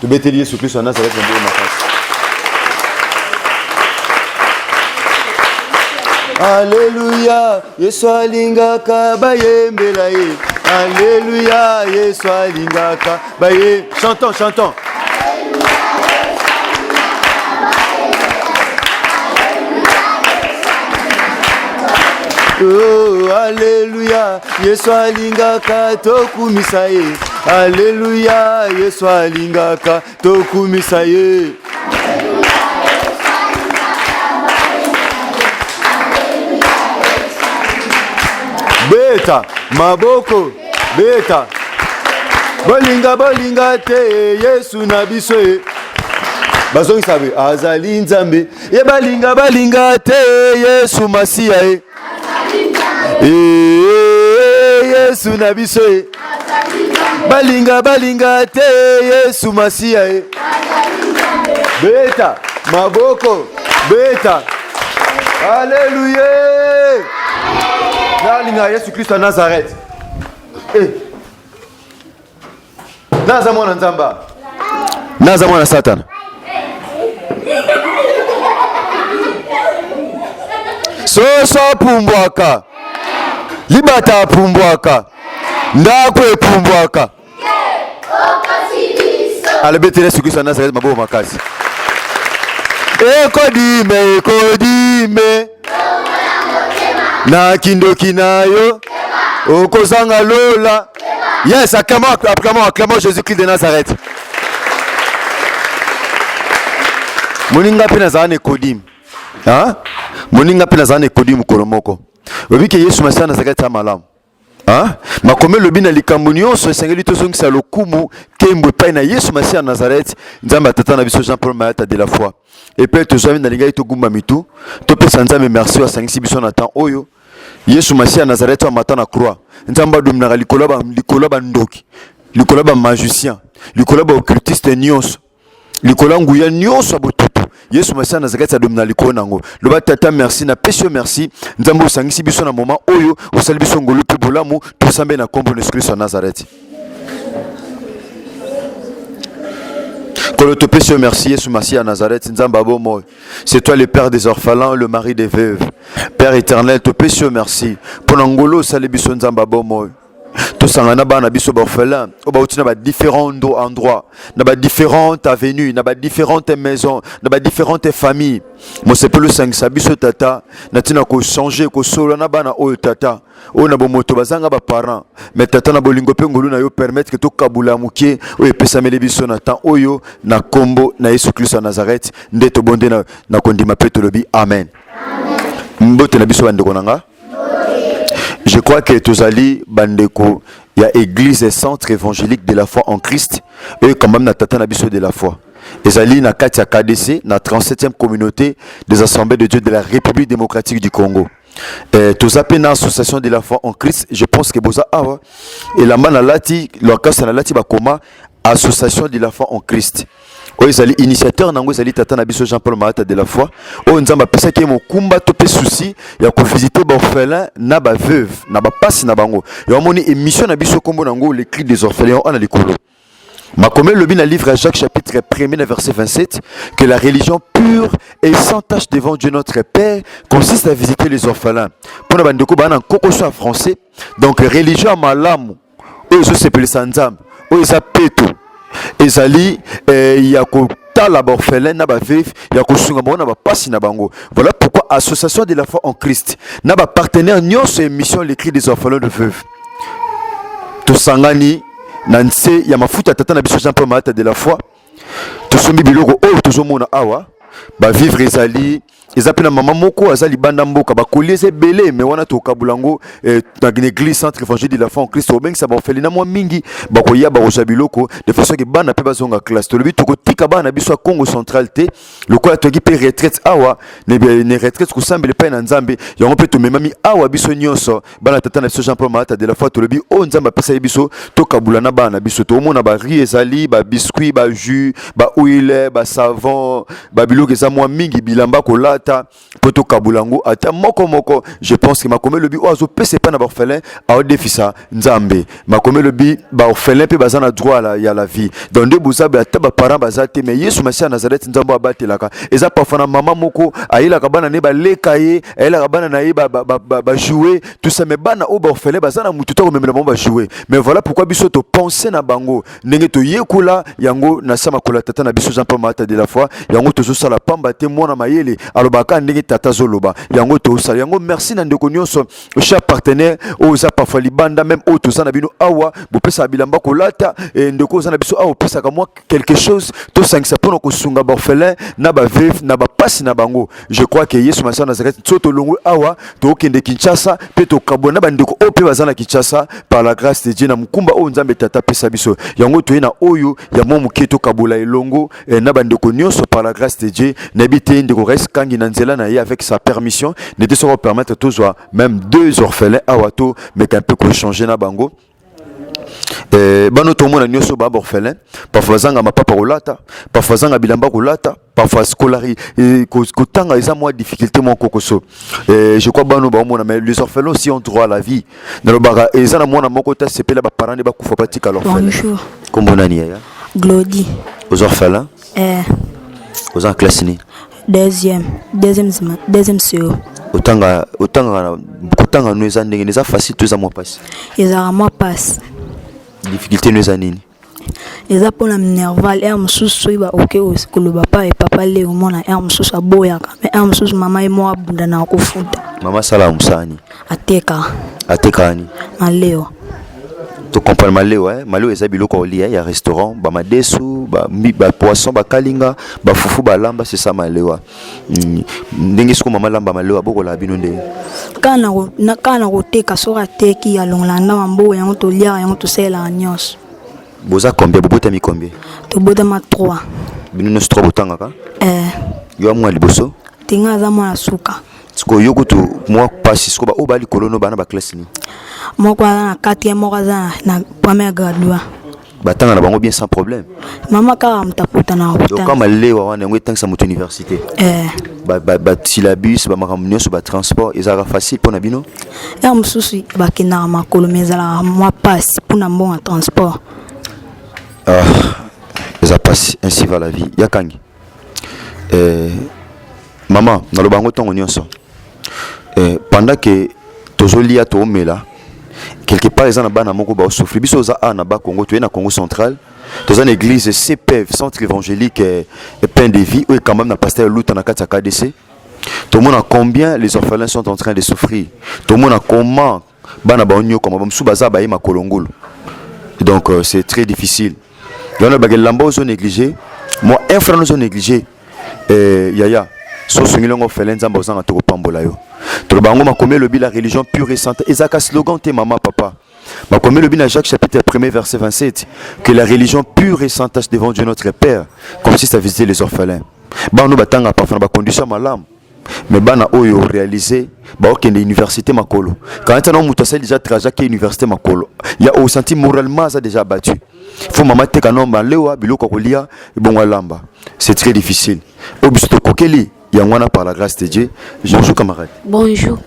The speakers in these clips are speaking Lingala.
tobeteli yesu kristo ya nazareti maboko makasi aleluya yesu alingaka bayembela ye aleluya yesu alingaka baye chanton chanton Oh, aleluya yesu alingaka tokumisa ye Aleluya, Yesu alingaka tokumisa ye. beta maboko beta bolinga bolinga te yesu na biso ye bazongisa be azali nzambe ye balinga balinga te yesu masiya ye yesu na biso e balinga balinga te yesu masiya e beta maboko beta aleluya nalinga yesu kristo ya nazarete eh. naza mwana nzambe naza mwana satana soso apumbwaka libata apumbwaka ndako epumbwaka alobi ete yesu kristo anazareti maboko makasi ekodime ekodime na kindoki na yo okozanga lola Yes, acclamons, acclamons, acclamons Jésus-Christ de Nazareth. Moninga pe nazala na Nikodime. Hein? Moninga pe nazala na Nikodime mokolo moko. Oyebi ke Yesu Masiya nazalaki ata malamu. Hein? Makomi elobi na likambo nyonso esengeli tozongisa lokumu kembo epai na Yesu Masiya ya Nazareth, Nzambe ya tata na biso Jean Paul Mayata de la foi. Epai tozwami nalingaki togumba mitu, topesa Nzambe merci oyo asangisi biso na temps oyo. Yesu Masiya ya Nazareti oyo amata na croix, Nzambe adominaka likolo ya ba likolo ya ba ndoki, likolo ya ba magicien, likolo ya ba occultiste nyonso, likolo ya nguya nyonso ya botutu. Yesu Masiya ya Nazareti adomina likolo na yango. Loba Tata merci, napesi yo merci. Nzambe osangisi biso na moment oyo, osali biso ngolu mpe bolamu, tosambe na kombo na Yesu Kristo ya Nazareti. Kolo topesi yo merci Yesu Masiya ya Nazareti, Nzambe ya bomoi. C'est toi le père des orphelins, le mari des veuves. Père éternel, te pèse merci. Pour Nangolo, salut biso nzamba bomo. tosangana na bana biso baorphelin oyo bauti na badifférent endroit na badifférente avenue na badifférente maison na badifférente famille mosepeli osangisa biso tata na ntina kochanger kosolola na bana oyo tata oyo na bomoto bazanga ba parents mais tata na bolingo pe ngolu na yo permettre que tokabula moke oyo epesameli biso na temps oyo na kombo na Yesu Kristo ya Nazareth nde tobonde na, na kondima pe tolobi amen, amen. mbote na biso bandeko na nga je crois que tozali bandeko ya église centre évangélique de la foi en Christ oyo kambami na tata na biso de la foi ezali na kati ya KDC na 37e communauté des assemblées de Dieu de la République démocratique du Congo Eh, toza mpe na association de la foi en christ je pense que boza awa elamba na lati lokasa na lati bakoma association de la foi en christ oyo ezali initiateur na yango ezali tata na biso jean paul malata de la foi oyo nzambe apesaki ye mokumba to mpe souci ya kovisite baorphelin na baveuve na bapasi na bango yango amoni émission na biso nkombo na yango le cri des orphelins wana likolo Makomé lobi na livre à Jacques chapitre 1er na verset 27 que la religion pure et sans tache devant Dieu notre Père consiste à visiter les orphelins. Pour na bandeko ba na koko soit français. Donc religion malamu oyo ezo sepelisa Nzambe oyo eza peto ezali eh, ya ko kotala baorphelin na baveuve ya kosunga bango na bapasi na bango voilà pourquoi association de la foi en christ na bapartenaire nyonso ya émission le cri des orphelins de veuve tosangani na nse ya mafuta ya tata na biso jean paul malata de la foi tosombi biloko oyo tozomona awa bavivre ezali eza mpe na mama moko aza libanda mboka bakoli eza ebele me wana tokabula yango eh, na église centre évangile de la foi en christ obengisa baofelina mwa mingi bakoya bakozwa biloko de façon ke bana mpe bazonga classe tolobi tokotika bana na biso ya congo central te lokola toyaki mpe retraite awa ne retraite kosambela epai na nzambe yango mpe tomemami awa biso nyonso bana tata na biso jean paul malata de la foi tolobi oyo oh, nzambe apesaki biso tokabula na bana na biso tokomona barie ezali babiscuit bajus bahuile basavon babiloko eza mwa mingi bilamba kolata mpo tokabula yango ata moko moko je pense que makomi elobi oyo azopesa epai na baorphelin aodefisa nzambe makomi elobi baorphelin mpe baza na droit la, ya la vie donc nde bozabe ata baparent baza te mais yesu masiya nazareti nzambe abatelaka eza parfois na mama moko ayelaka bana na ye baleka ye ayelaka bana na ye bajoue tout ça mais bana oyo baorphelin baza na motu to komemela bango bajoue mais voilà pourquoi biso topense na bango ndenge toyekola yango na se makolo ya tata na biso jean paul maata de la foi yango tozosala pamba te mwana mayele alobaka ndenge tata azoloba yango tosala yango merci na ndeko nyonso cher partenaire oyo oza parfois libanda meme oyo toza na bino awa bopesaka bilamba kolata e, ndeko oza na biso awa opesaka mwa quelque chose tosangisa mpo na kosunga baorphelin na baveve na bapasi na bango je crois que yesu masiya nazareti so tolongwe awa tokokende kinshasa mpe tokabwana na bandeko oyo mpe baza na kinshasa par la grâce de dieu na mokumba oyo nzambe tata apesa biso yango toye na oyo ya mwa moke tokabola elongo eh, na bandeko nyonso par la grâce de dieu nayebi te ndeko rais kangi na nzela na ye avec sa permission nete soko permettre tozwa même deux orphelins awa to meka mpe kochanger na bango Eh, bano tomona nyonso ba orphelin parfois azanga mapapa kolata parfois azanga bilamba kolata parfois scolari eh, kotanga eza mwa difficulté mwa kokoso eh, je crois bano baomona mais les orphelins aussi ont droit à la vie nalobaka eza na mwana moko te asepela baparent nde bakufa batika l'orphelin kombo nani yaya glodi aux orphelins eh. oza na classe nini deuxième deuxième deuxième seo otanga otanga kotanga no eza ndenge eza facile to eza mwa mpasi ezalaka mwa mpasi difficulté no eza nini eza mpona minerval aire mosusu soki baoke koloba pa ye papa le omona aire mosusu aboyaka me aire mosusu mama ye moko abunda na kofuta mama asala mosala nini Ateka. Ateka ani? Maleo. To comprendre maleo hein? Maleo eza biloko olia ya restaurant, ba madesu, ba, ba poisson, ba kalinga, ba fufu, ba lamba, c'est ça malewa. Mm. Ndenge siko mama lamba malewa boko la bino ndenge. Kana ko na kana ko teka sora teki ya longola na mambo yango to lia yango to sela nyos. Boza combien bobota mi combien? To bota ma 3. Bino nyos 3 botangaka? Eh. Yo amwa liboso? Tinga za mwa suka. sikoyo yo kutu mwa mpasi sikoyo baoyo baa likolo no bana baklasse nini moko aza na quatrième moko aza na première gradua batanga na bango bien sans problème mama kaka moto akutana oka malewa wana yango etangisa moto université eh. basyllabus bamakambo nyonso batransport ezalaka facile mpo na bino ya mosusu bakendaka makolo ma ezalaka mwa mpasi mpo na mbongo ya transport ah, eza mpasi ainsi va la vie yakangi eh, mama naloba yango ntango nyonso eh, pendant ke tozolia toomela quelque part eza na bana moko baosouffri biso oza a na bakongo toye na congo central toza na église cpf centre évangélique eh, pain de vie oyo ekambami na pasteur luta na kati ya kdc tomona combien les orphelins sont en train de souffrir tomona comment bana baonyokwama bamosusu baza baye makolo ngulu donc euh, c'est très difficile yango bake lamba ozo néglige mwa infran ozo néglige euh, yaya so osungeli yango fele nzambe ozanga te kopambola yo toloba yango makomi elobi la religion pure et sante ezalaka slogan te mama papa makomi elobi na jacques chapitre 1 verset 27 que la religion pure et sans tache devant dieu notre père consiste à visiter les orphelins bana oyo batangaka parfois na bacondition malamu mais bana oyo réalisé bakokende université makolo kanati yango moto asali déjà trajet ake université makolo ya osanti moralement aza déjà abattu fo mama teka no malewa biloko ya kolia ebongo alamba c'est très difficile oyo biso tokokeli yango wana par la grâce de dieu bonjour camarade bonjour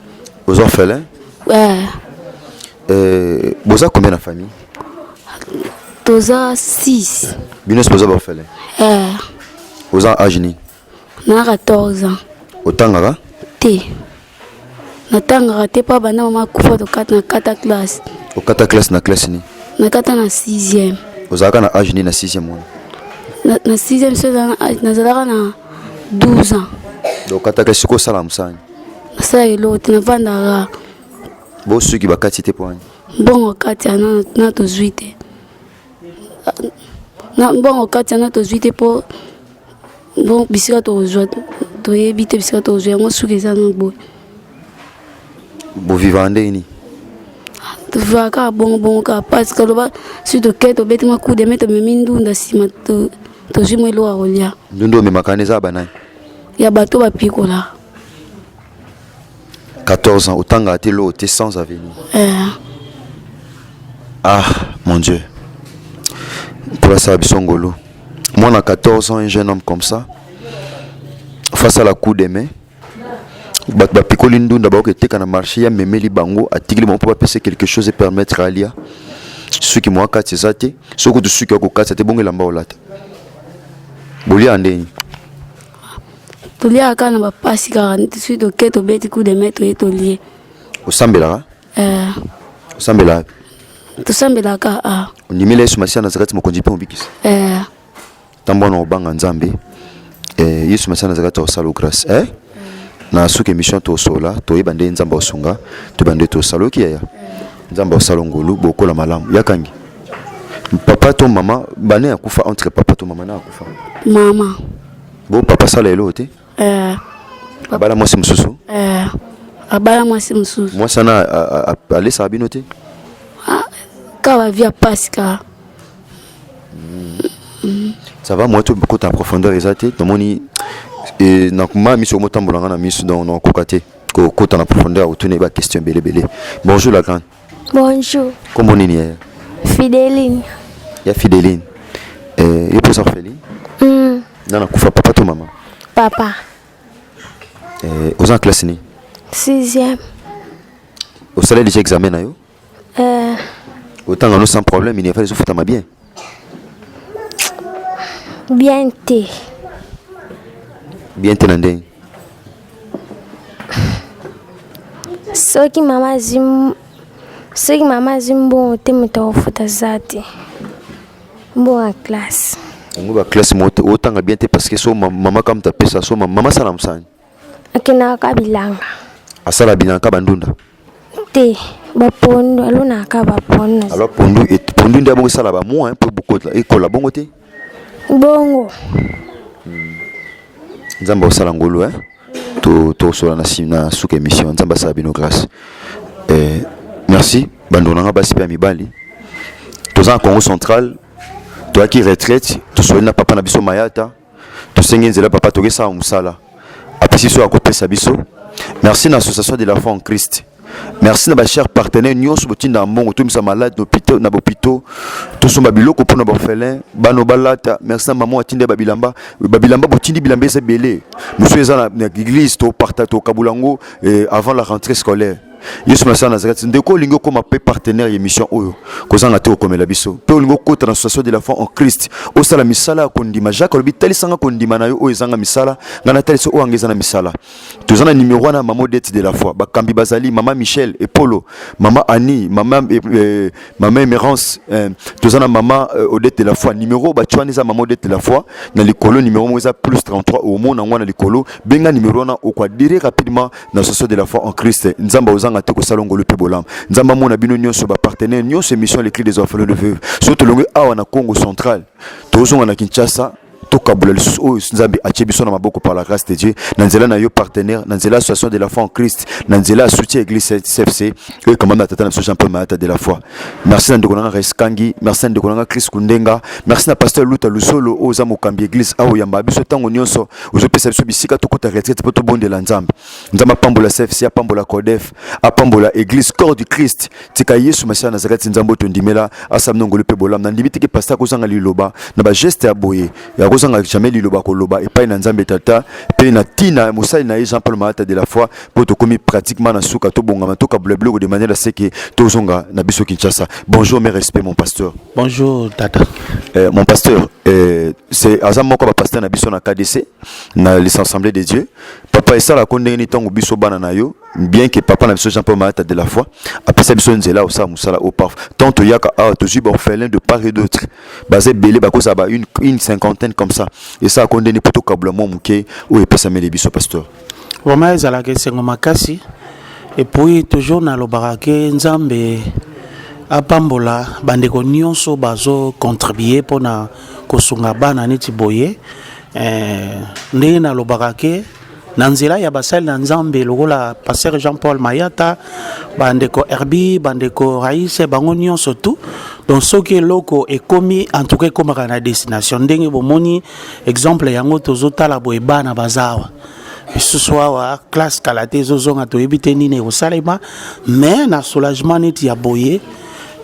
oza orphelin ouais. euh, boza combien na famille toza 6 bino nyonso boza baorphelin euh. oza age nini na 14 ans otangaka te natangaka te mpo banda mama akufa tokata na kata classe okata classe na classe nini nakata na 6e ozalaka na age nini na 6e wana na 6e so nazalaka na 12 ans okata classe soki osala mosani nasala eloko te navandaka bosuki bakati te mpo wani mbongo kati ana na tozwi te na mbongo kati yana tozwi te mpo bon bisika tokozwa toyebi te bisika tokozwa yango suki eza na boye bovivaka ndenge nini tozwaka kaka bongobongo kaka mpasi kaloba si toke tobeti mwa kude me tomemi ndunda nsima tozwi mwa eloko ya kolia ndunda omemaka wana eza banani ya bato bapikolaka 14 ans otanga ate lo te sans avenir euh. ah mon dieu mpola sala biso ngolu mwana 14 ans un jeune homme comme ça face à la coup des mains bato bapikoli ndunda bakoki eteka na marché ya memeli bango atikili bango mpo bapesa quelque chose epermettre alia suki mwa kati eza te soki kutu suki ya kokatisa te bongo elamba olata bolia ndenge toliaka kaka na bapasi kaka soki toke tobeti coup de mai toye tolie osambelaka eh. osambelaka tosambelaka a ah. ondimeli yesu masiya nazakati mokonzi mpe mobikisi eh. ntango wana obanga nzambe eh, yesu masiya nazakati akosala grâce eh? na suka émission tosola toyeba nde nzambe aosunga toyeba nde tosala oki yaya nzambe aosala ngolu bokola malamu yakangi papa to mama bane akufa entre papa to mama na akufa mama Bo papa sala eloko te. Eh. Abala mwasi mosusu. Eh. Abala mwasi mosusu. Mwasi wana alesaka bino te? Ah, ka ba via pasi ka. Mm. Ça va moi tout beaucoup en profondeur eza te tomoni e, na ma miso motambola nga na miso donc nakokoka te kokota na profondeur otuni ba question ebele ebele bonjour la grande Bonjour. Kombo nini yaya? Fideline. Ya Fideline. Eh, yo posa Fideline? Mm. Nana kufa papa to mama? Papa. Eh, oza classe ni? 6e. Osala déjà examen na yo? Eh. Otanga no sans problème, il n'y a pas de souffle bien. Bien te. Bien te na ndenge. Soki mama azwi soki mama azwi mbongo te moto akofuta aza te mbongo ya classe yango ba classe moko te otanga bien te parce que so mama kaka moto apesa so mama asala mosani akendaka bilanga asala bilanga ka bandunda te bapondu alonaka bapondu alors pondu pondu nde abongo esala bamwa mpo bokotla ekola bongo te bongo hmm. nzambe akosala ngolu e tokosola na suka émission nzambe asala bino grâce eh, merci bandeko na ngai basi mpe ya mibali toza na congo central toyaki retraite tosoli na papa na biso mayata tosengi nzela papa tokesala mosala apesi biso ya kopesa biso merci na association de la foi en christ merci na bachers partenaire nyonso botindaka mbongo tomisa malade na bopito tosomba biloko mpo na baorphelin bana balata merci na mama atindai babilamba babilamba botindi bilamba eza ebele mosusu eza na église tokabula yango eh, avant la rentrée scolaire yesu masiya nazareth ndeko olingi okóma mpe partenaire ya émission oyo kozanga te okomela biso mpe olingi okota na association de la foi en christ osala misala ya kondima jacques alobi talisanga kondima na yo oyo ezanga misala ngai natalisa oyo anga eza na misala toza na nimero wana mama odete de la foi bakambi bazali mama michel epolo mama annie mama, eh, eh mama emerance eh, toza na mama eh, odete de la foi nimero batye wana eza mama odete de la foi na likolo nimero moko eza plus 33 omona yango na likolo benga nimero wana okoadire rapidement na soso de la foi en Christ nzamba ozanga te kosala ngolu mpe bolamu nzambe amona bino nyonso bapartenaire nyonso émission les cris des orphelins de veuve soki tolongi awa na congo central tozonga na kinshasa tokabula lisusu oyo nzambe atie biso na maboko par la grâce de dieu na nzela na yo partenaire na nzela association de la foi en christ na nzela ya soutien église cfc oyo ekamami na tata na biso jean paul mayata de la foi merci na ndeko na nga Rais Kangi merci na ndeko na nga Chris Kundenga merci na pasteur Luta Lusolo oyo oza mokambi église awo yamba biso ntango nyonso ozopesa biso bisika tokota retraite mpo tobondela nzambe nzambe apambola CFC apambola CODEF apambola église corps du Christ tika Yesu Masiya Nazareti nzambe oyo tondimela asala minongoli mpe bolamu nandimi teke pasteur akozanga liloba na bageste ya boye akozanga jamais liloba koloba epai na nzambe tata mpe na ntina ya mosali na ye Jean Paul Malata de la foi oyo tokomi pratiquement na suka tobongama tokabula biloko de manière aseke tozonga na biso kinshasa bonjour mes respect mon pasteur bonjour tata euh, mon pasteur euh, c'est aza moko ya bapasteur na biso na kdc na les assemblée de dieu papa esalako ndenge nini ntango biso bana na yo bien que papa na biso jean paul malata de la foi apesa biso nzela osala mosala au paf tant toyaka awa tozwi baorphelin de part et d'autre baza ebele bakozala ba une, une cinquantaine comme ça esalako ndenge mpo tokabula mwa moke oyo epesameli biso pasteur Vraiment ezalaka esengo makasi et puis toujours nalobaka ke Nzambe apambola bandeko nyonso bazo contribuer mpona kosunga bana neti boye eh, ndenge nalobaka ke na nzela ya basali na nzambe lokola pasteur jean paul mayata bandeko herbi bandeko raise bango nyonso tu donc soki eloko ekomi en tout cas ekomaka na destination ndenge bomoni exemple yango tozotala boye bana baza awa lisusu awa classe kala te ezozonga toyebi te nini ekosalema mais na soulagement neti ya boye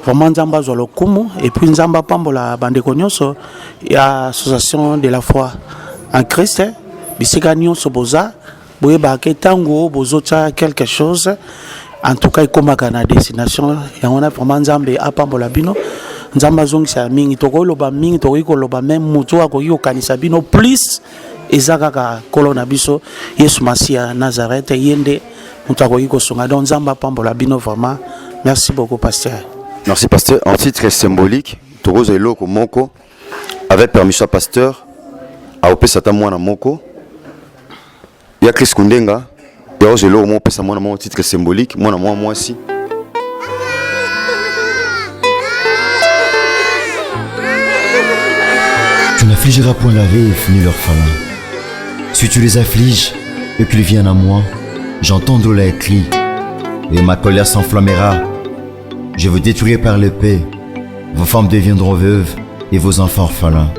vraiment nzambe azwa lokumu epuis nzambe apambola bandeko nyonso ya association de la foi en christ bisika nyonso boza boyebaka ke ntango bozotya quelque chose en tout cas ekomaka na destination yango wana vraiment nzambe apambola bino nzambe azongisa ya mingi tokoki loba mingi tokoki koloba meme moto oyo akoki kokanisa bino plus eza kaka nkolo na biso yesu masiya nazarete ye nde moto akoki kosunga donc nzambe apambola bino vraiment merci beaucoup pasteur merci pasteur en titre symbolique tokozwa eloko moko avec permission ya pasteur akopesa ata mwana moko ya chris kundenga ya ozo eloko moko opesa mwana moko titre symbolique mwana mwa mwasi Tu n'affligeras point la veuve ni l'orphelin. Si tu les affliges et qu'ils viennent à moi, j'entendrai les cris, et ma colère s'enflammera Je vous détruirai par l'épée, vos femmes deviendront veuves et vos enfants orphelins.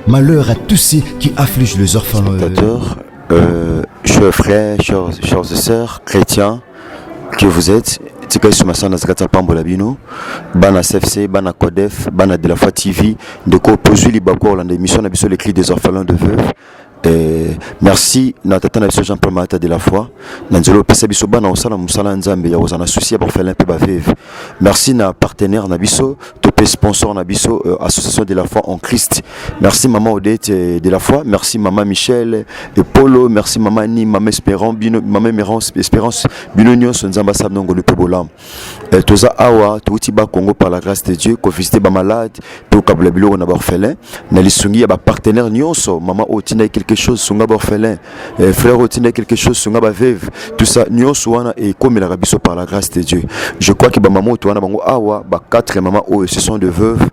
Malheur à tous ceux qui affligent les orphelins. Spectateurs, euh, chers frères, chers, chers sœurs, chrétiens que vous êtes, tikali suma sana nazalaki ata pambola bino bana cfc bana codef bana de la foi tv ndeko tozwi libaku ya kolanda émission na biso le cri des orphelins de veuve Eh, merci na tata na biso jean paul malata de la foi na nzela opesa biso bana kosala mosala ya nzambe ya kozala na susi ya bafele mpe baveve merci na partenaire na biso to mpe sponsor na biso euh, association de la foi en christ merci mama odete euh, de la foi merci mama michel epolo merci mama ni mama espérance bino mama espérance bino nyonso nzambe asala nongo mpe bolamu Eh, toza awa touti ba congo par la grâce de dieu kovisite bamalade tokabula biloko na baorphelin na lisungi ya bapartenaire nyonso mama oyo otindaki quelque chose sunga baorphelin eh, frère oyo otindaki quelque chose sunga baveve tout ça nyonso wana ekomelaka biso par la grâce de dieu je crois que bamama oyo towana bango awa ba 4 mama oyo ce sont de veuve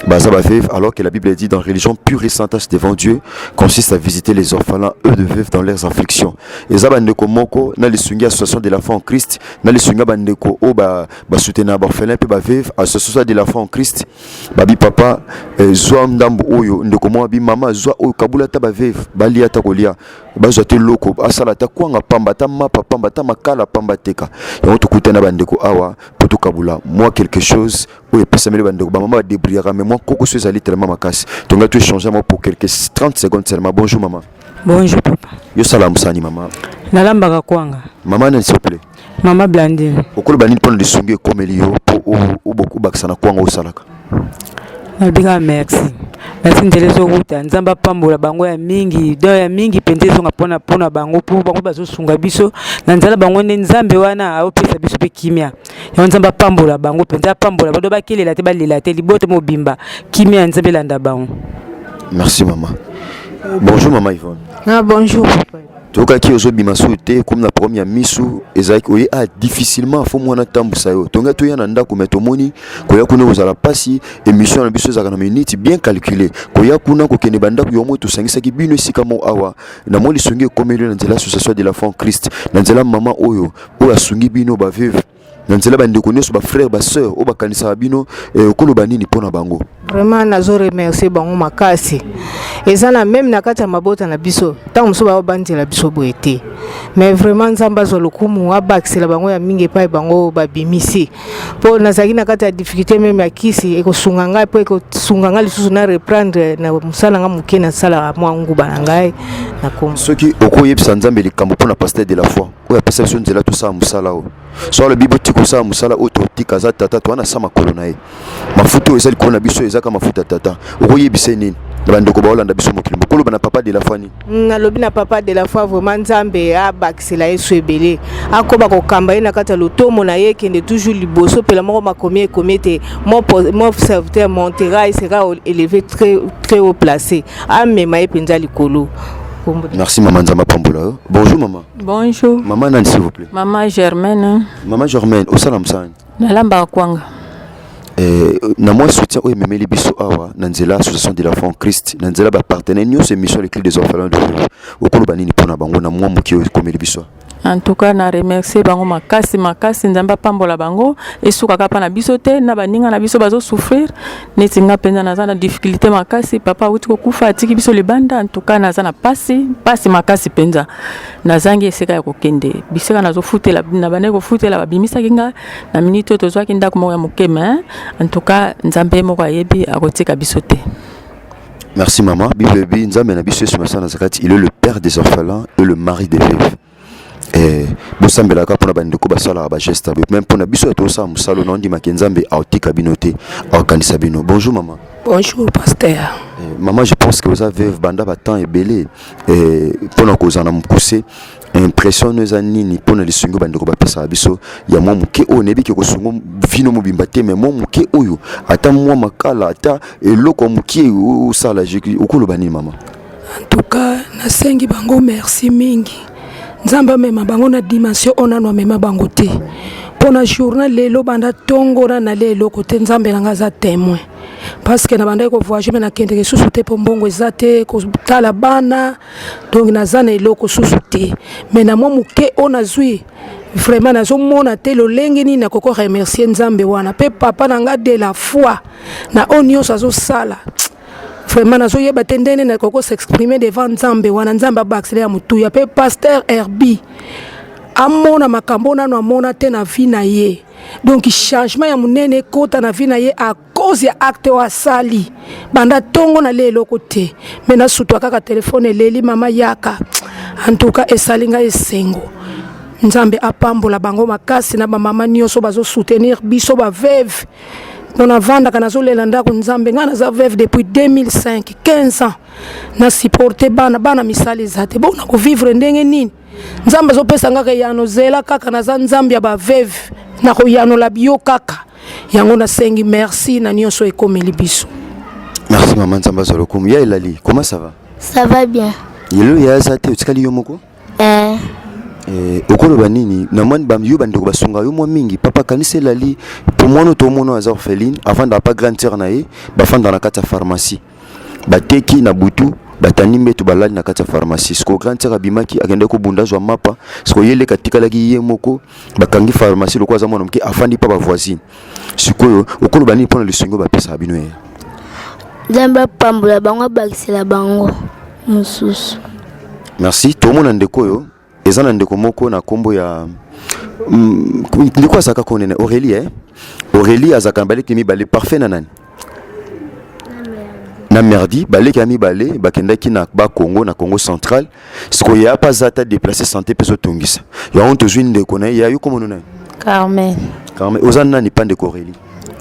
Baza ba veuve alors que la Bible dit dans religion pure et sainte devant Dieu consiste à visiter les orphelins eux de veuves dans leurs afflictions. Eza ba ndeko moko na lisungi association de la foi en Christ na lisungi ba ndeko o ba ba soutenir ba orphelins pe ba veuves association de la foi en Christ. Babi papa eh, zwa ndambo oyo ndeko mwa bi mama zwa oyo kabula ta ba veuve bali ata kolia bazwa te loko asala ata kwanga pamba ata mapa pamba ata makala pamba teka yango tokutana ba ndeko awa po tokabula mwa quelque chose oyo epesameli bandeko bamama badebriyaka mai mwa kokoso ezali telema makasi tongai to échange yango pour quelque 30 secondes seulement bonjour mama bonjour papa yo sala mosani mama nalambaka kwanga mama nani s'il vous plaît mama blandine okoloba nini mpona lisungi ekomeli yo mpo obakisa na kwanga osalaka nabika merci merci nzela ezowuta nzambe apambola bango ya mingi don ya mingi mpenza ezonga mpona mpona bango mpo bango bazosunga biso na nzela bango nde nzambe wana aopesa biso mpe kimia yango nzambe apambola bango mpenza apambola bado bakelela te balela te libota mobimba kimia ya nzambe elanda bango merci mama bonjour mama ivone ah, bonjour toyokaki ozobima so te komi na problème ya misu ezalaki oye a ah, difficilement fo mwana atambusa yo tongai toya na ndako me tomoni koya kuna kozala mpasi émission na biso ezalaka na minute bien calcule koya kuna kokende bandako yo moi tosangisaki bino esika mo awa na mwa lisongi ekomeli na nzela association de la fond christ na nzela mama oyo oyo asungi bino ba veuve na nzela bandeko nyonso bafrère basœur oyo bakanisaka bino eh, okoloba nini mpo na bango vraiment nazo remercie bango makasi eza na meme na kati ya mabota na biso ntango mosusu baobanzela biso boye te mais vraiment nzambe azwa lokumu abakisela bango ya mingi epai bango babimisi mpo nazalaki na kati ya difficulté meme ya kisi ekosunga ngai mpo ekosunga ngai lisusu na reprendre na mosala ngai moke nasalaka mwa nguba na ngai na soki okoyebisa nzambe likambo mpo na pasteur de la foi oyo apesa biso nzela tosala mosala oyo so alobi botika kosala mosala oyo totika aza tata towana sa makolo na ye mafuta oyo eza likolo na biso ezaka mafuta tata okoyebisa ye nini na bandeko baolanda biso mokili mokoloba na papa de la foi nini nalobi na papa de la foi vraiment nzambe abakisela yesu ebele akoba kokamba ye na kati ya lotomo na ye ekende toujours liboso mpela moko makomi ekomi ete mon serviteur montera e sera élevé très, très haut placé amema ye mpenza likolo merci mama nzambe apambola yo bonjour mama Bonjour. Maman Nani, s'il vous plaît. Maman Germaine. Hein. Maman Germaine, au salam sang. Nalamba kwanga. Euh, na moi soutien oyo ememeli biso awa na nzela association de la fond christ na nzela bapartenaire nyonso émission les clés des orphelins de jour okoloba nini mpo na bango na mwa moke oyo ekomeli biso en tout cas na remercier bango makasi makasi nzambe apambola bango esukaka mpa na biso te na baninga na biso bazosouffrir neti nga mpenza naza na difficulté makasi papa awuti kokufa atiki biso libanda ntuka naza na mpasi mpasi makasi mpenza nazangi esika ya kokende bisika nazofutela na bandaki kofutela babimisaki nga na miniti oyo tozwaki ndako moko ya moke me ntuka nzambe moko ayebi akotika biso te Merci maman. Bible, Nzambe na biso Yesu Masana Zakati, il est le père des orphelins et le mari des veuves. Eh, bosambelaka mpona bandeko basalaka bageste boye meme mpona biso ya tosala mosala na ondimaki nzambe aotika bino te aokanisa bino bonjour mama bonjour pasteur eh, mama je pense que oza veuve banda batemps ebele eh, mpona kozala na mokuse impression no eza nini mpona lisungi oyo bandeko bapesaka biso ya mwa moke oyo nayebi ke kosungo vino mobimba te mai mwa moke oyo ata mwa makala ata eloko ya moke osala okoloba nini mama En tout cas, nasengi bango merci mingi. Nzambe amema bango na dimension oyo nanu amema bango te. Mpo na journal lelo banda ntongo na nalia eloko te, Nzambe na ngai aza temoin. Parce que nabandaki kovoyage me nakendeke lisusu te mpo mbongo eza te, kotala bana, donc naza na eloko susu te. Mais na mwa moke oyo nazwi vraiment nazomona te lolenge nini nakoki koremercier Nzambe wana mpe papa na ngai de la foi na oyo nyonso azosala vraiment nazoyeba te ndenge nini nakoki s'exprime devant nzambe wana nzambe abakisela ya motuya mpe paster herbi amona makambo nano amona te na vie na ye donc changement ya monene ekota na vie na ye à cause ya acte oyo asali banda ntongo nalia eloko te me nasutwa kaka telefone eleli mama yaka en tout cas esali ngai esengo nzambe apambola bango makasi na bamama nyonso bazosoutenir biso baveve mpo navandaka nazolela ndako nzambe ngai naza veuve depuis 2005 15 ans na supporte bana bana misala eza te bona kovivre ndenge nini nzambe azopesa ngaka eyano zela kaka naza nzambe ya baveuve nakoyanola biyo kaka yango nasengi merci na nyonso ekomeli biso merci mama nzambe azwa lokumu ya elali comment ça va ça va bien lelo ya aza te otikali yo moko Eh. Eh, okoloba nini na mwa ba, yo bandeko basunga yo mwa mingi papa kanisa elali po mwana to mwana aza orpheline afandaka pa grande sœur na ye bafandaka na kati ya pharmacie bateki na butu batandi mbeto balali na kati ya pharmacie siko grande sœur abimaki akendaki kobunda azwa mapa siko ye leka atikalaki ye moko bakangi pharmacie lokola aza mwana moke afandi pa bavoisine sikoyo okoloba nini mpo na lisungi oyo bapesaka bino ye nzambe apambola bango abakisela bango mosusu merci tomona ndeko oyo eza na ndeko moko na nkombo ya mm, ndeko azalaka konene aurélie eh? aurélie azalaka na baleki mibale parfait na nani na merdi baleki ya mibale bakendaki na ba congo na congo central sikoyo ya mpe aza ata déplace santé mpe ezotungisa yango tozwi ndeko na ye yayo komono nani carmen carmen oza nani mpa ndeko aurélie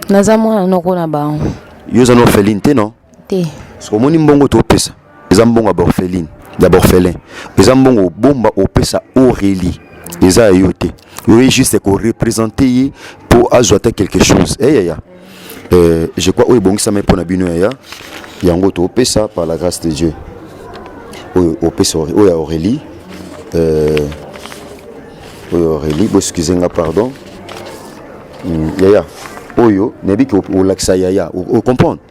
naza mwana noko na bango yo oza na orpheline te non te sikoyo omoni mbongo topesa eza mbongo ya borpheline ya borphelin eza mbongo obomba opesa aurélie eza ya yo te oye juste korepresente ye mpo azwa ata quelque chose eyaya eh, hey, Euh, je crois oyo ebongisami mpo na bino yaya yango topesa par la grâce de dieu oyo opesa oyo ya aurélie euh, oyo aurélie boexcuse nga pardon hmm, yaya oyo nayebi ke olakisa yaya ocomprendre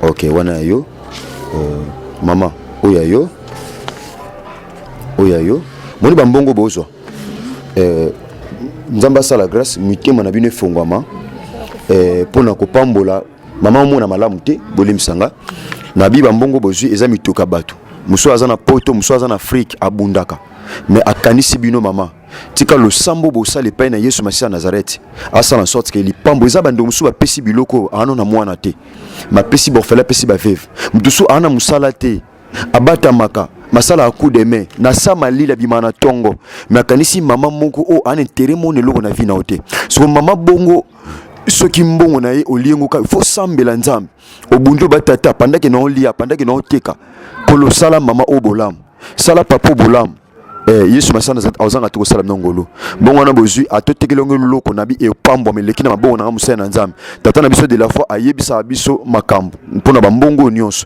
Ok, wana ya yo euh, mama oyo ya yo oyo ya yo moni bambongo bozwa euh, nzambe asala grâce mitema na bino efongwama euh, mpo na kopambola mama omona malamu te bolimisa nga na biba mbongo bozwi eza mitoka bato mosusu aza na poto mosusu aza na afrike abundaka me akanisi bino mama tika losambo bosala epai na yesu masiya nazareti asala na sorte ke lipambo eza bandeko mosusu bapesi biloko aano na mwana te bapesi borfele apesi baveve moto mosusu aana mosala te abatamaka masala coup de main na sa malila bima na tongo me akanisi mama moko oyo oh, ana intere mona eloko na vi na yo te soko mama bongo soki mbongo na ye oliengoka il faut sambela nzambe obundi oba tata apandaki na olia apandaki na oteka kolosala mama oyo bolamu sala papa oyo bolamu Eh, yesu masana ozanga te kosala bino ngolu bongo wana bozwi ata otekeli yango eloko na bi epambwama eleki na mabongo nanga mosali na nzambe tata na biso de la foi ayebisaka biso makambo mpo na bambongo oyo nyonso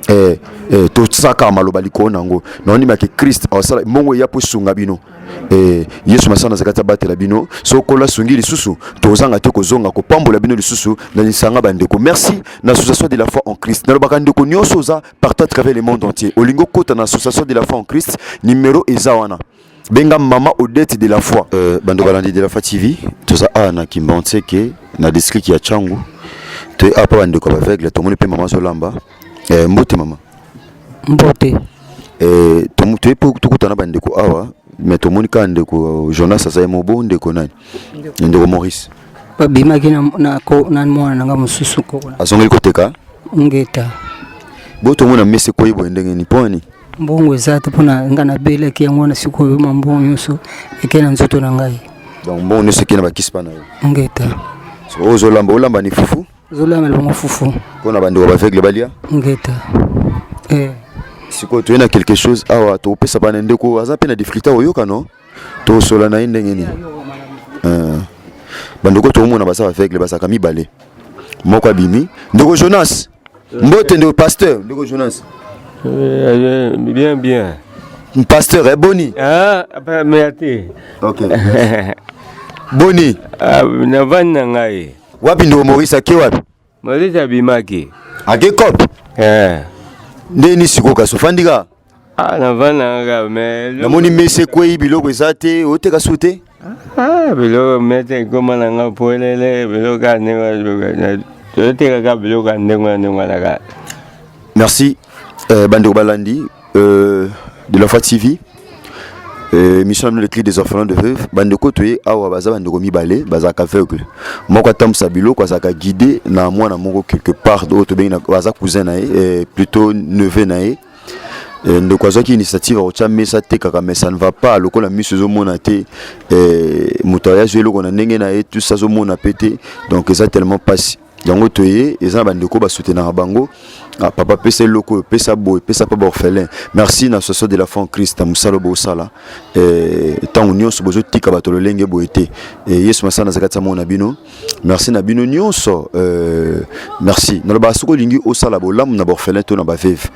eh, eh, tosaka maloba likolo na yango na ondima ke krist asala mbongo eya mpo esunga bino eh, yesu masana azalaki te abatela bino sokola asungi lisusu tozanga te kozonga kopambola bino lisusu na lisanga bandeko merci na association de la foi en christ nalobaka ndeko nyonso oza partout à travers le monde entier olingo kota na association de la foi en Christ numéro eza wana benga mama Odette de la foi euh, bando balandi de la foi TV toza a na Kimbanseke na district ya Changu to apa bande ko aveugle to moni pe mama Zolamba euh, mbote mama mbote euh to to epo to kota na bande ko awa mais to moni ka ndeko Jonas azaye mobo ndeko nani ndeko Maurice babimaki na, na, na mwana na nga mosusu kokola azongeli koteka ngeta botongo na mese koyi boye ndenge nini mpo mbongo eza te mpona ngai nabelaki yango wana sikoyo ma mbongo nyonso eke na nzoto na ngai donc mbongo nyonso eke na bakisi mpa na yo ngeta oyo ozolamba olamba ni fufu ozolamba libongo fufu mpo na bandeko baveugle balia ngeta eh. sikoyo toye na quelque chose awa tokopesa bana ndeko aza mpe na difficulté akoyoka no tosola na ye ndenge nini eh. bandeko tokomona basa baveugle basaka mibale moko abimi ndeko jonas mbote ndeko pasteur ndeko jonas eh, bien bien pasteur eh, boni ah, mea te boni ah, navandi na ngai wapi ndeko maurice ake wapi Moïse abimaki. Ake cop. Eh. Nde ni siko kaso fandika. Ah na vana nga me. Na moni mese kwei biloko eza te oteka su te. Ah biloko mete koma na nga polele biloko ane nga. Toyoteka ka biloko ndenge na ndenge na ka. Merci. Eh, bandeko balandi euh, de la foi TV euh, mission na bino le cri des orphelins de veuve bandeko toye awa baza bandeko mibale bazalaka aveugle moko atambwisa biloko azalaka guide na mwana moko quelque part oyo tobengi baza cousin na ye euh, plutôt neveu na ye euh, ndeko azwaki initiative akotya mesa atekaka mais ça ne va pas lokola miso ezomona te euh, moto aya azwi eloko na ndenge na ye tusi azomona mpe te donc eza tellement mpasi yango toye eza na bandeko basutenaka bango ah, papa pesa eloko oyo pesa boye pesa mpe baorphelin merci na soso de la fond christ na mosala bosala eh, ntango nyonso bozotika bato lolenge boye te eh, yesu masala naza kati ya moko na bino merci na bino nyonso eh, merci nalobaka soki olingi osala bolamu na baorphelin to na baveve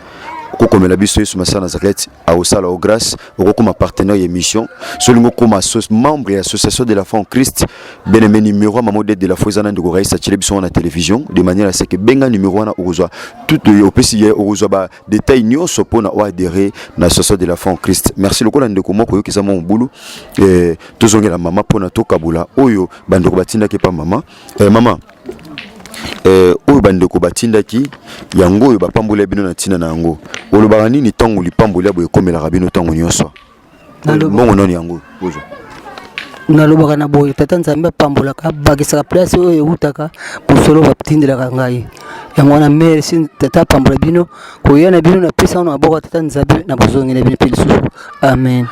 kokomela biso yesu masala na zaketi akosala o grâce okokoma partenaire ya émission so olingi okoma membre ya association de la foi en christ beneme numéro ya mama odete de la foi eza na ndeko raisa atyele biso wana na télévision de manière aseke benga numéro wana okozwa tout opesi ye okozwa ba détail nyonso mpo na oadere na association de la foi en christ merci lokola ndeko moko oyoki eza mwa mobulu eh, tozongela mama mpo na tokabola oyo bandeko batindaki epa mama eh, mama eh, oyo bandeko batindaki yango oyo bapamboli ya bino na ntina na yango olobaka nini ntango lipamboli ya boye ekomelaka bino ntango nyonso mbongo nani yango ozwa nalobaka na boye tata nzambe apambolaka abakisaka place oyo ewutaka mosolo batindelaka ngai yango wana merci tata apambola bino koya na bino na pesa wana maboko ya tata nzambe na bozongi na bino mpe lisusu amen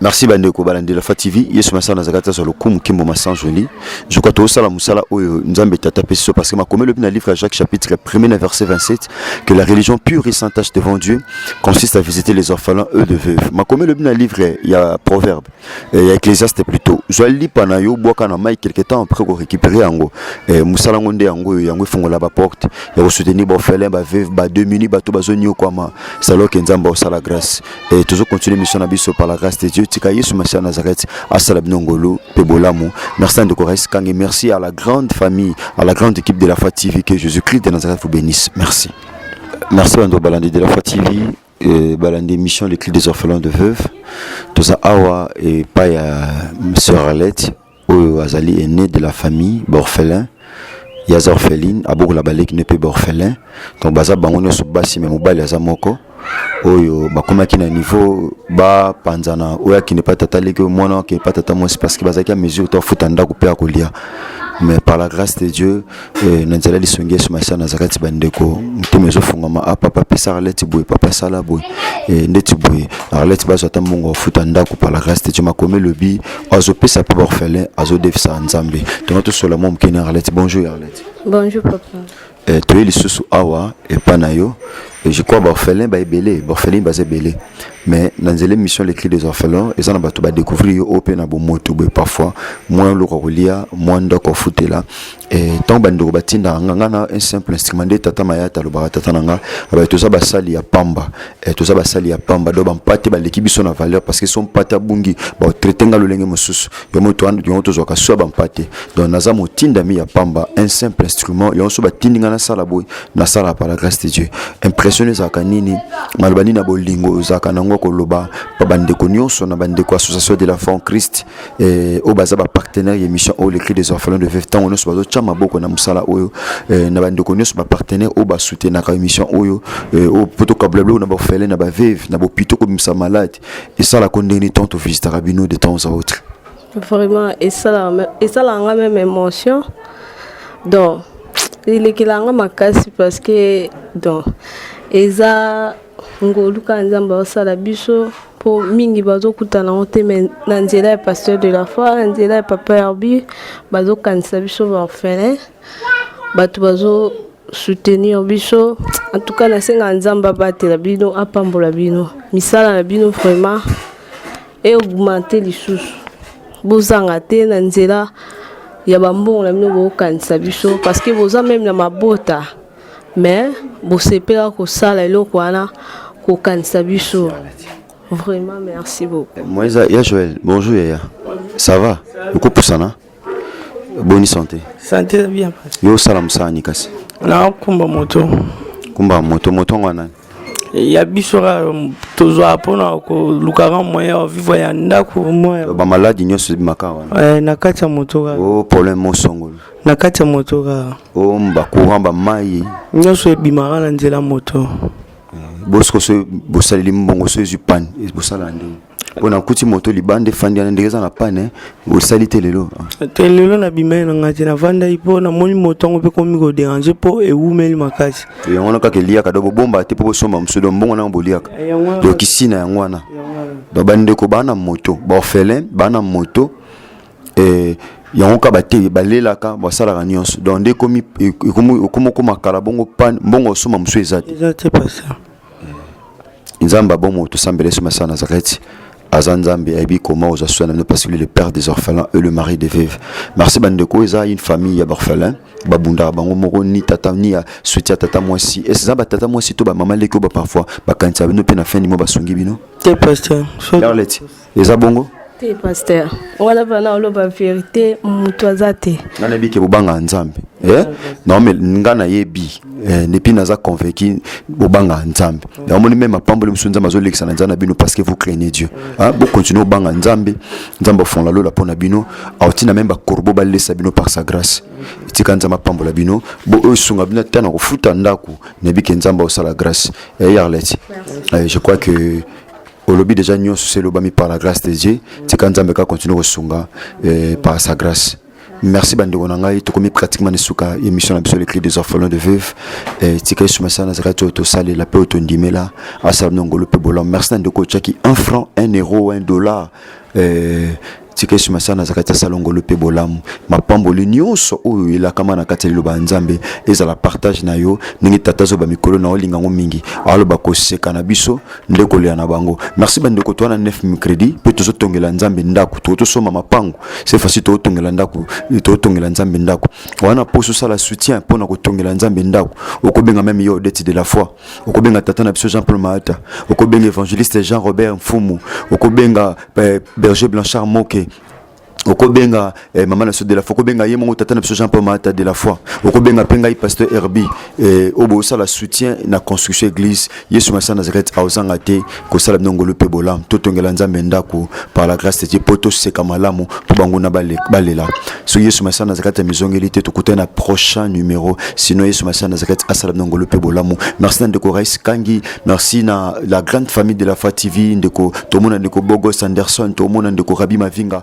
merci bandeko balandi lafa tv yesu masala na zakati azwa lokumu kimbo masanzoli nzoka tosala mosala oyo nzambe tata apesi so parce que makomi elobi na livre ya jacques chapitre 1er na verset 27 que la religion pure et sans tache devant dieu consiste à visiter les orphelins eux de veuve makomi elobi na livre ya proverbe eh, ya ecclésiaste plutôt zwa lipa na yo bwaka na mai quelque temps après korécupere yango eh, mosala yango nde yango oyo yango efongola baporte ya kosoutenir baorphelin baveuve bademuni bato bazoniokwama saloke nzambe osala grâce Et toujours continuer mission na biso par la grâce de Dieu. Tika Yesu Masiya Nazareth asala bino ngolu pe bolamu. Merci ndeko Rais Kange, merci à la grande famille, à la grande équipe de la Foi TV que Jésus-Christ de Nazareth vous bénisse. Merci. Merci bando balandi de la Foi TV. Euh, balandi émission les clés des orphelins de veuves toza awa epai ya sœur alette oyo azali aine de la famille borphelin ya aza orpheline abokola baleki ne pe borphelin donc baza bango nyonso basi me mobali aza moko oyo bakomaki na niveau bapanzana oyo akende pa tata leki oyo mwana akende pa tata mwasi parce que bazalaki ya mesure to afuta ndako mpe akolia mais par la grâce de dieu Eh, na nzela lisungi yesu masiya naza kati bandeko motema ezofungama a ah, papa apesa arlete boye papa asala boye eh, ndeti boye arlete bazwa ata mbongo afuta ndako par la grâce de dieu makomi elobi azopesa mpe baorphelin azodefisa nzambe tonga tosola mwa mokeni arlete bonjour arlete bonjour papa eh, toye lisusu awa epa na yo Et je crois orphelin ba ebele, orphelin ba ebele. Mais dans les émissions les cris des orphelins, ils en batu ba découvrir au pena bo moto be parfois moins le kolia, moins ndoko futela. Et tant ba ndoko batinda ngana un simple instrument de tata maya talo ba tata nanga, ba toza ba sali ya pamba. Et toza ba sali ya pamba do ba mpate ba leki biso na valeur parce que son pata bungi ba traiter nga lolenge mususu. Yo moto an yo tozo ka so ba mpate. Donc naza motinda mi ya pamba un simple instrument, yo so ba tindinga na sala boy. nasala par la grâce de dieu impression ezalaka nini maloba nini na bolingo ezalaka nango ya koloba bandeko nyonso na bandeko association de la fond christ eh, oyo baza bapartenaire ya émission oyo lecri des orphelins de veve ntango nyonso bazotya maboko na mosala oyo eh, na bandeko nyonso bapartenaire oyo basoutenaka émission oyo eh, oyo mpo tokabula biloko na baorphelin na baveve na bopito kobimisa malade esalaka ndenge nini ntango tovisitaka bino de temps à autre vraiment esalaka nga meme émotion donc elekela nga makasi parce que donc eza ngolu kaka nzambe aosala biso mpo mingi bazokutana yango te mai na nzela ya pasteur de la foi na nzela ya papa herbi bazokanisa biso baorphelin bato bazo soutenir biso en tout cas nasenga nzambe abatela bino apambola bino misala na bino vraiment e augmente lisusu bozanga te na nzela ya bambongo na bino bokokanisa biso parce que boza meme na mabota mais bosepela kosala eloko wana kokanisa biso vraiment merci beaucoup moisa ya joel bonjour yaya ça va okopusana boni sante sante eza bien yo osala mosala nini kasi nakumba moto kumba moto moto yango nani ya biso kaka um, tozwa mpona kolukaka moyen ya vivre ya ndako bamaladi nyonso ebimaka wana eh, na kati ya moto kaka o oh, problème mosongolo na kati ya moto kaka o oh, bacourant bamai nyonso ebimaka na nzela moto eh, bosikoso bosaleli mbongo so ezwi pane bosala ndenge mpo nakuti moto libanda efandi wana ndenge eza na pane osali te lelo te lelo nabimai na ngai te navandaki mpo namoni moto yango mpe komi koderange mpo ewumeli makasi yango wana kaka eliaka do bobomba te mpo bosomba mosusu do mbongo nango boliaka do kisi na yango wana do bandeko baa na moto baorphelin baa na moto eh, yango ka bate balelaka basalaka nyonso donc nde ekomi okoma okoma kala bongo pane mbongo osomba mosusu eza te nzambe abomo tosambela yesu masiya nazareti aza nzambe ayebi koma oza soin na bino parce que le père des orphelins et le mari des veuves merci bandeko eza une famille ya baorphelin babundaka bango moko ni tata ni ya soutien tata mwasi ese eza batata mwasi to bamama leki oyo baparfois bakanisaka bino mpe na fin nimo basungi bino te pasteur eza bongo te pasteur wana bana oloba verité moto aza te nga nayebi ke bobangaka nzambe eh? naome nga nayebi eh, nepi naza convaincu bobangaka nzambe namoni meme mapamboli mosusu nzambe azolekisa na nzambe na bino parce que vous craignez dieu ah, bocontinue obanga nzambe nzambe afongola lola mpo na bino aotina meme bakorbo balesa bino par sa grâce tika nzambe apambola bino bo oyo esunga bino ata na kofuta ndako nayebi ke nzambe aosala grâce eh, yarleti eh, je crois que olobi deja nyonso se elobami par la grâce de dieu tika nzambe kaka continue kosunga eh, par sa grâce merci bandeko na ngai tokomi pratiquement na suka émission na biso le cri des orphelins de veuve eh, tika esuma sana azalaka ti oyo tosalela mpe oyo tondimela asala bino ngolu mpe bolamu merci na ndeko otyaki un franc un euro un dollar Eh, tika yesu masiya naza kati ya salongolo mpe bolamu mapamboli nyonso oyo elakama na kati ya liloba ya nzambe ezala partage na yo ndenge tata zoba mikolo na olinga yango mingi aloba koseka na biso nde kolela na bango merci bandeko to wana 9 micredi mpe tozotongela nzambe ndako to tosomba mapango se fasi tootongela ndako tootongela nzambe ndako wana mposo osala soutien mpo na kotongela nzambe ndako okobenga meme yo odete de la foi okobenga tata na biso jean paul maata okobenga évangéliste jean robert mfumu okobenga eh, berger blanchard moke okobenga eh, mama na biso de la foi okobenga ye moko tata na biso jean paul maata de la foi okobenga mpe ngai pasteur herbi eh, oyo bosala soutien na construction église yesu masa nazareth aozanga te kosala bino ngolu mpe bolamu totongela nzambe ndako par la grâce de dieu mpo toseka malamu mpo banguna balela soki yesu masiya na zakati ya mizongeli te tokutani na prochain numéro sinon yesu masiya na zakati asala bino ngolu mpe bolamu merci na ndeko rais kangi merci na la grande famille de la foi tv ndeko tomona ndeko bogos anderson tomona ndeko rabi mavinga